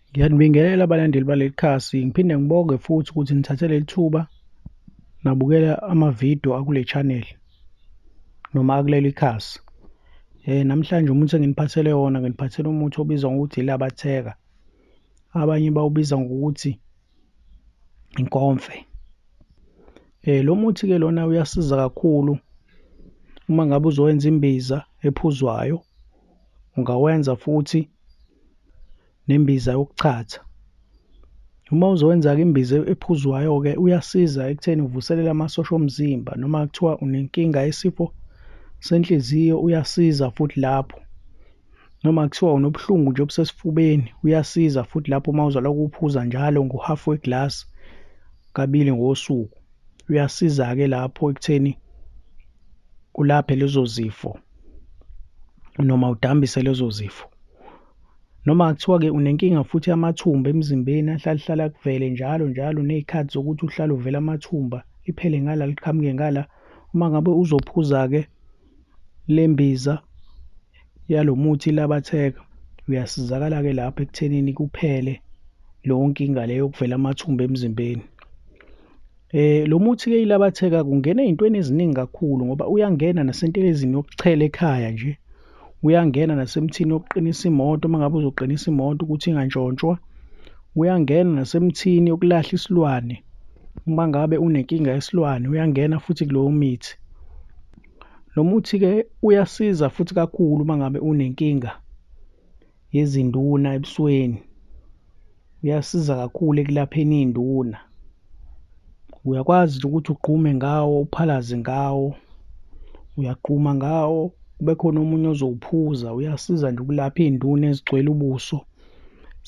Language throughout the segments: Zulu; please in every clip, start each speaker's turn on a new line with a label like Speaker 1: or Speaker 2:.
Speaker 1: Ngiyanibingelela abalandeli baleli khasi, ngiphinde ngibonge futhi ukuthi nithathe leli thuba nabukela amavidiyo akule channel noma akuleli khasi. Eh namhlanje umuthi enginiphathele wona nginiphathele umuthi obizwa ngokuthi ilabatheka. Abanye bawubiza ngokuthi inkomfe. Eh lo muthi ke lona uyasiza kakhulu uma ngabe uzowenza imbiza ephuzwayo ungawenza futhi nembiza yokuchatha. Uma uzowenza-ke imbiza ephuzwayo-ke uyasiza ekutheni uvuselele amasosha omzimba noma kuthiwa unenkinga yesifo senhliziyo uyasiza futhi lapho. Noma kuthiwa unobuhlungu nje obusesifubeni uyasiza futhi lapho uma uzolokhu uphuza njalo ngohafu weglasi kabili ngosuku. uyasiza-ke lapho ekutheni ulaphe lezo zifo noma udambise lezo zifo noma kuthiwa-ke unenkinga futhi yamathumba emzimbeni ahlalehlale akuvele njalo njalo nezikhathi zokuthi uhlale uvela amathumba iphele ngala liqhamuke ngala uma ngabe uzophuza-ke lembiza yalomuthi ilabatheka uyasizakala ke lapha ekuthenini kuphele leyo nkinga leyo yokuvela amathumba emzimbeni eh lo muthi ke ilabatheka kungena ezintweni eziningi kakhulu ngoba uyangena nasentelezini yokuchela ekhaya nje uyangena nasemthini yokuqinisa imoto uma ngabe uzoqinisa imoto ukuthi ingantshontshwa uyangena nasemthini yokulahla isilwane uma ngabe unenkinga yesilwane uyangena futhi kulowo mithi Lo muthi-ke uyasiza futhi kakhulu uma ngabe unenkinga yezinduna ebusweni. Uyasiza kakhulu ekulapheni iy'nduna. Uyakwazi nje ukuthi ugqume ngawo, uphalaze ngawo, uyagquma ngawo, kube khona omunye ozowuphuza. Uyasiza nje ukulapha iy'nduna ezigcwele ubuso,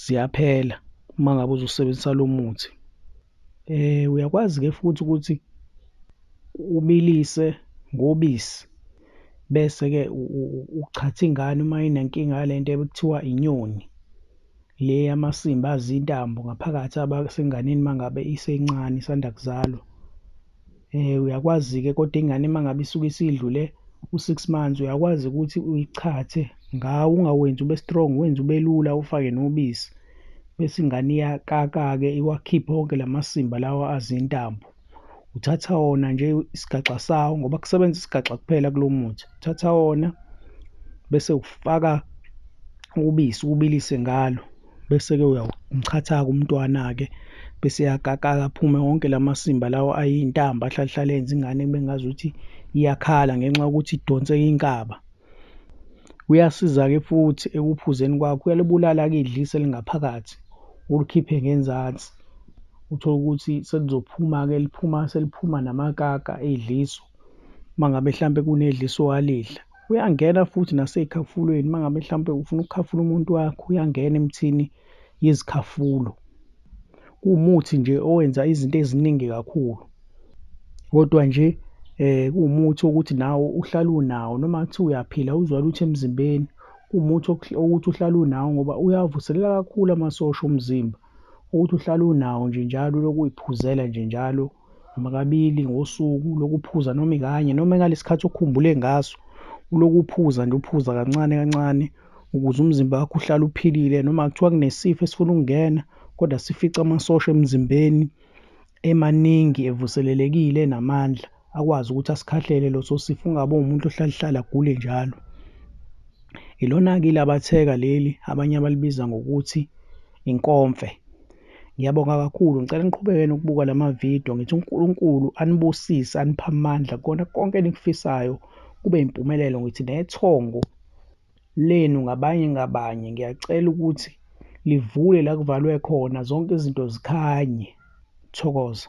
Speaker 1: ziyaphela uma ngabe uzosebenzisa lo muthi. Eh uyakwazi ke futhi ukuthi ubilise ngobisi bese ke uchatha ingane uma inenkinga yalento ekuthiwa inyoni le yamasimba azintambo ngaphakathi abasenganeni mangabe isencane isanda kuzalwa. eh uyakwazi ke kodwa ingane mangabe isuke isidlule u6 months uyakwazi ukuthi uyichathe ngawo ungawenzi ube strong wenze ubelula ufake nobisi bese ingane iyakaka ke iwakhiphe wonke lamasimba lawa azintambo uthatha wona nje isigaxa sawo ngoba kusebenza isigaxa kuphela kulomuthi uthatha wona bese ufaka ubisi ubilise ngalo bese-ke uyawumchathaka umntwana-ke bese eyakakala aphume wonke la masimba lawo ayintamba ahlalahlala enza ingane kube ngazuthi iyakhala ngenxa yokuthi idonseke inkaba uyasiza-ke futhi ekuphuzeni kwakho uyalibulala-ke idlisa elingaphakathi ulikhiphe ngenzansi uthole ukuthi selizophuma-ke liphuma seliphuma namakaka edliso uma ngabe hlampe kunedliso walidla Uyangena futhi nasey'khafulweni uma ngabe mhlawumpe ufuna ukukhafula umuntu wakho uyangena emthini yezikhafulo. Kuwumuthi nje owenza izinto eziningi kakhulu. Kodwa nje eh kuwumuthi wokuthi nawo uhlala unawo noma kuthiwa uyaphila uzwa lutho emzimbeni. Kuwumuthi okuthi uhlala unawo ngoba uyavuselela kakhulu amasosha omzimba ukuthi uhlala unawo nje njalo ulokhu uy'phuzela nje njalo noma kabili ngosuku lokuphuza noma ikanye noma ngalesikhathi okhumbule ngaso ulokuphuza nje uphuza kancane kancane ukuze umzimba wakho uhlale uphilile noma kuthiwa kunesifo esifuna ukungena kodwa sifica amasosha emzimbeni emaningi evuselelekile namandla akwazi ukuthi asikhahlele loso sifo ungabe umuntu ohlalihlala agule njalo ilona-ke ilabatheka leli abanye abalibiza ngokuthi inkomfe Ngiyabonga kakhulu ngicela niqhubeke nokubuka lama video ngithi uNkulunkulu anibusise anipha amandla kona konke enikufisayo kube impumelelo ngithi nethongo lenu ngabanye ngabanye ngiyacela ukuthi livule la kuvalwe khona zonke izinto zikhanye thokoza